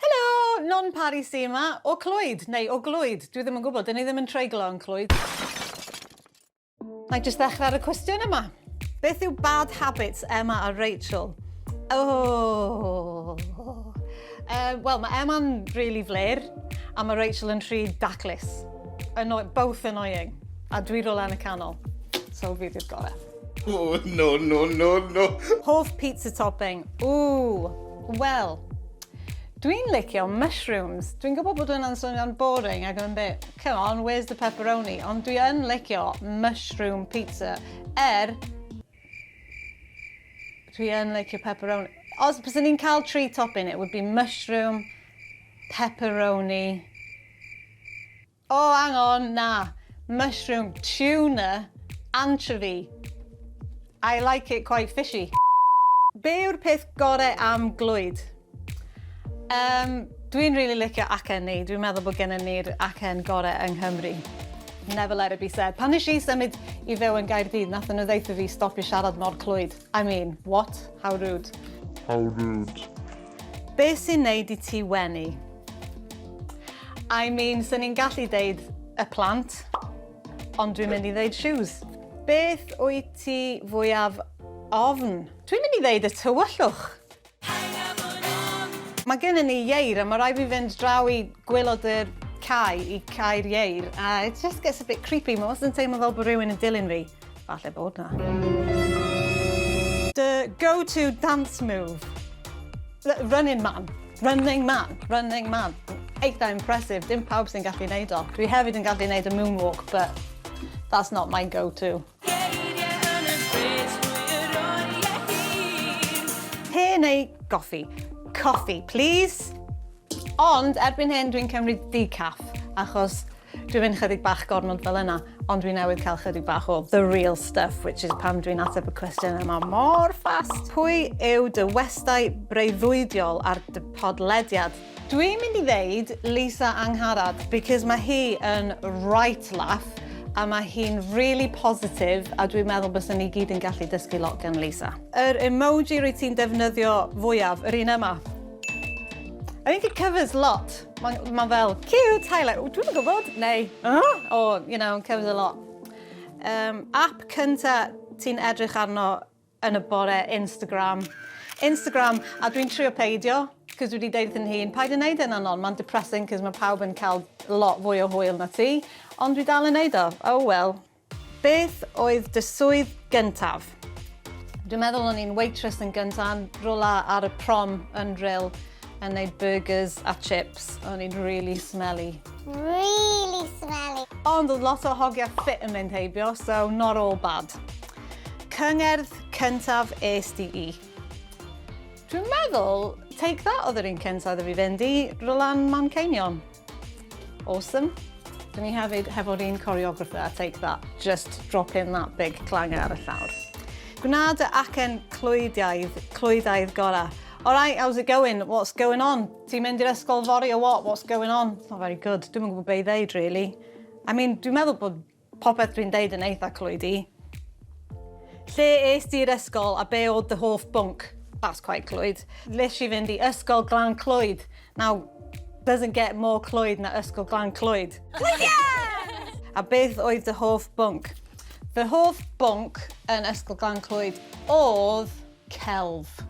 Helo! Non Pari sy yma, o Clwyd, neu o Glwyd, dwi ddim yn gwybod, 'dyn ni ddim yn treiglo yn Clwyd. Na'i jyst ddechrau ar y cwestiwn yma. Beth yw bad habits Emma a Rachel? Ooh! Yy, wel, mae Emma'n rili flêr, a mae Rachel yn rhy daclus. Anno- both annoying. A dwi rywle yn y canol. So fi 'di'r gore. Oh, no, no, no, no. Hoff pizza topping. Ooh, wel, Dwi'n licio mushrooms. Dwi'n gwybod bod hwnna'n swnio'n boring ac yn bit, come on, where's the pepperoni? Ond dwi yn licio mushroom pizza. Er, dwi yn licio pepperoni. Os bys ni'n cael tri topping, it would be mushroom, pepperoni, O, hang on, na. Mushroom, tuna, anchovy. I like it quite fishy. Be yw'r peth gore am glwyd? Um, Dwi'n really licio acen ni. Dwi'n meddwl bod gennym ni'r acen gorau yng Nghymru. Never let it be said. Pan nes i symud i fyw yn Gaerdydd, nath nhw ddeitha fi stopio siarad mor clwyd. I mean, what? How rude. How rude. Be sy'n neud i ti wenu? I mean, swn i'n gallu deud y plant, ond dwi'n mynd i ddeud shoes. Beth wyt ti fwyaf ofn? Dwi'n mynd i ddeud y tywyllwch. Mae gennym ni ieir a mae rhaid fi fynd draw i gwaelod y cae i cau'r ieir a it just gets a bit creepy, mae wastad yn teimlo fel bod rhywun yn dilyn fi. Falle bod na. The go-to dance move. Running man. Running man. Running man. Eitha impressive. Dim pawb sy'n gallu neud o. Dwi hefyd yn gallu neud y moonwalk, but that's not my go-to. Te neu goffi? Coffi, please. Ond erbyn hyn dwi'n cymryd decaf, achos Dwi fyn chydig bach gormod fel yna, ond dwi newydd cael chydig bach o the real stuff, which is pam dwi'n ateb y cwestiwn yma mor fast. Pwy yw dy westai breuddwydiol ar dy podlediad? Dwi'n mynd i ddeud Lisa Angharad, because mae hi yn right laugh, a mae hi'n really positive, a dwi'n meddwl bys ni gyd yn gallu dysgu lot gan Lisa. Yr emoji rwy ti'n defnyddio fwyaf, yr un yma. I think it covers lot. Mae'n ma fel, cute, highlight. O, dwi'n gwybod, neu, oh, oh, you know, covers a lot. Um, app cynta ti'n edrych arno yn y bore, Instagram. Instagram, a dwi'n trio peidio, cos dwi wedi deud yn hun, paid yn neud yn e, anon, mae'n depressing, cos mae pawb yn cael lot fwy o hwyl na ti, ond dwi dal yn neud o, oh well. Beth oedd dy swydd gyntaf? Dwi'n meddwl o'n i'n waitress yn gynta'n rwla ar y prom yn Rhyl yn neud burgers a chips. O'n i'n rili smelly. Rili smelly. Ond oedd lot o hogia ffit yn mynd heibio so not all bad. Cyngerdd cyntaf est ti i? Dwi'n meddwl Take That oedd yr un cynta iddo fi fynd i, rwla'n Manceinion. Awesome. Dyn ni hefyd hefo'r un choreographer, I take that. Just drop in that big clanger ar y llawr. Gwna dy acen clwydiaidd, clwyddaidd gorau. Alright, how's it going? What's going on? Ti'n mynd i'r ysgol fori o what? What's going on? It's not very good. Dwi'n yn gwybod be i ddeud, really. I mean, dwi'n meddwl bod Popeth dwi'n deud yn eitha clwyd i. Lle est ti i'r ysgol a be oedd dy hoff bwnc? That's quite clwyd. Nes i fynd i Ysgol Glan Clwyd. Now, doesn't get more clwyd na Ysgol Glan Clwyd. Brilliant! A beth oedd dy hoff bwnc? Fy hoff bwnc yn Ysgol Glan Clwyd oedd... celf.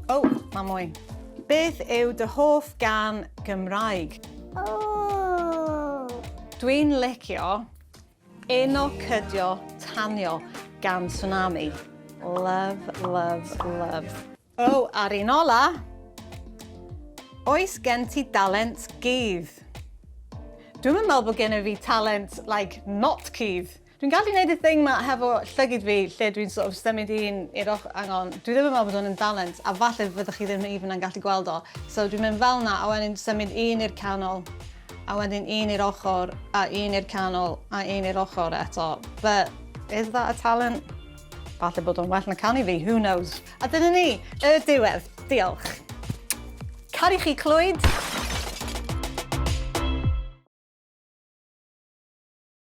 O! Mae mwy. Beth yw dy hoff gan Gymraeg? Dwi'n licio Uno Cydio Tanio gan Tsunami. Love, love, love. O, a'r un ola! Oes gen ti dalent cudd? Dwi'm yn meddwl bod gen i fi talent, like, not cudd. Dwi'n gallu neud y thing 'ma hefo llygid fi lle dwi'n sort of symud un i'r ochr hang on dwi ddim yn meddwl bod hwn yn dalent a falle fyddwch chi ddim even yn gallu gweld o so dwi'n mynd fel 'na a wedyn symud un i'r canol a wedyn un i'r ochr a un i'r canol a un i'r ochr eto but is that a talent? Falle bod o'n well na canu fi, who knows? A dyna ni, y diwedd. Diolch. Caru chi Clwyd!